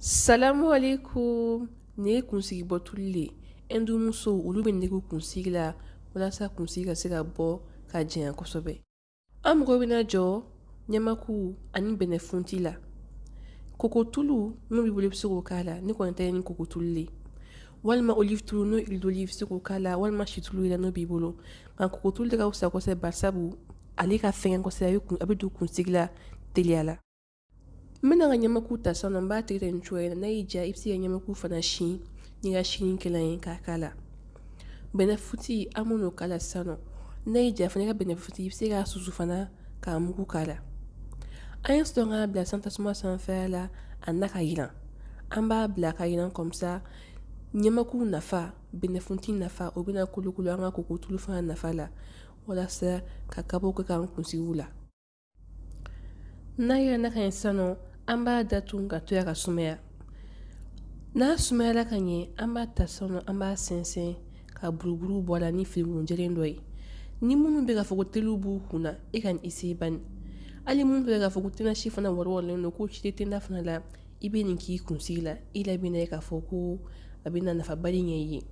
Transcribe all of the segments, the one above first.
Salamu aleykum nin ye kunsigi bɔ tulu le ye Hindu musow olu bɛ nin k'i kunsigi la walasa kunsigi ka se ka bɔ ka janya kosɛbɛ an mago bɛna jɔ ɲamaku ani bɛnɛfunti la kokotulu n'o b'i bolo i bɛ se k'o k'a la ne kɔni ta ye ni kokotulu le ye walima olive tulu n'o huile d'olive i bɛ se k'o k'a la walima situlu yɛrɛ n'o b'i bolo nka kokotulu de ka fisa kosɛbɛ barisabu ale ka fɛgɛn kosɛbɛ a bɛ don kunsigi la teliya la N bɛna n ka ɲamaku ta san n b'a tigɛ nin cogoya n'a y'i diya i bɛ se ka ɲamaku fana si n'i ka silikɛlan ye k'a k'a la bɛnɛfunti an b'o k'a la sisan nɔ n'a y'i diya fana i ka bɛnɛfunti i bɛ se k'a susu fana k'a mugu k'a la an ye sɔrɔ k'a bila san tasuma sanfɛ la a na ka yiran an b'a bila ka yiran kɔmisa ɲamaku nafa bɛnɛfunti nafa o bɛna kolokolo an ka kokotulu fana nafa la walasa ka kabako k'an kunsigiw la n'a yiranna ka ɲɛ sisan nɔ an b'a datugu k'a to yen ka sumaya n'a sumayala ka ɲɛ an b'a ta sisan nɔ an b'a sɛnsɛn ka buruburu bɔ a la ni finikun jɛlen dɔ ye ni minnu bɛ k'a fɔ ko telu b'u kun na i ka nin essayer bani hali minnu bɛ k'a fɔ ko tenna si fana wɔɔrɔlen don ko si tɛ tenna fana la i bɛ nin k'i kunsigi la i la bɛna ye k'a fɔ ko a bɛna nafaba le ɲɛ i ye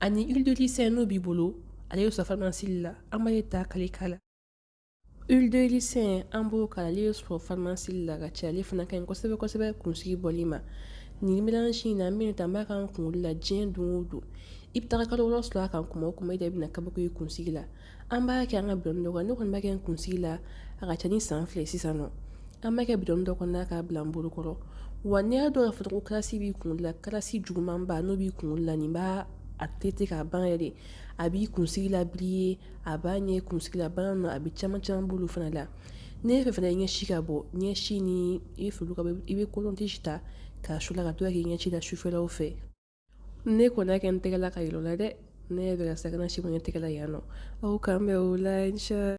ani huile de ricin n'o b'i bolo ale ye sɔrɔ farimasi la an b'ale ta k'ale k'a la Huile de ricin an b'o k'a la ale bɛ sɔrɔ farimasi la ka ca ale fana ka ɲi kosɛbɛ kosɛbɛ kunsigi bɔli ma nin mélange in na an b'a ta an b'a k'an kunkolo la diɲɛ don o don i bɛ taa kalo wɔɔrɔ sɔrɔ a kan kuma o kuma ile bɛna kabako ye i kunsigi la an b'a kɛ an ka bidɔn dɔ kɔnɔ ne kɔni b'a kɛ n kunsigi la a ka ca ni san fila sisan nɔ an b'a kɛ bidɔn dɔ kɔnɔ k'a bila n bolokɔrɔ wa n'i y'a dɔn k'a fɔ ko kalasi b'i kun la kalasi jugumanba n'o b'i kun la nin b'a traiter k'a ban yɛrɛ de a b'i kunsigi la briller a b'a ɲɛ kunsigi la bana nɔ a bɛ caman caman bolo fana la n'i b'a fɛ fana i ɲɛsi ka bɔ ɲɛsi ni i bɛ foli ka i bɛ coton-tige ta k'a su a la ka to k'a k'i ɲɛsi la sufɛlaw fɛ ne kɔni y'a kɛ n tɛgɛ la k'a yira aw la dɛ ne yɛrɛ bɛ ka siran a kana si bɔ n tɛgɛ la yan nɔ aw k'an bɛn o la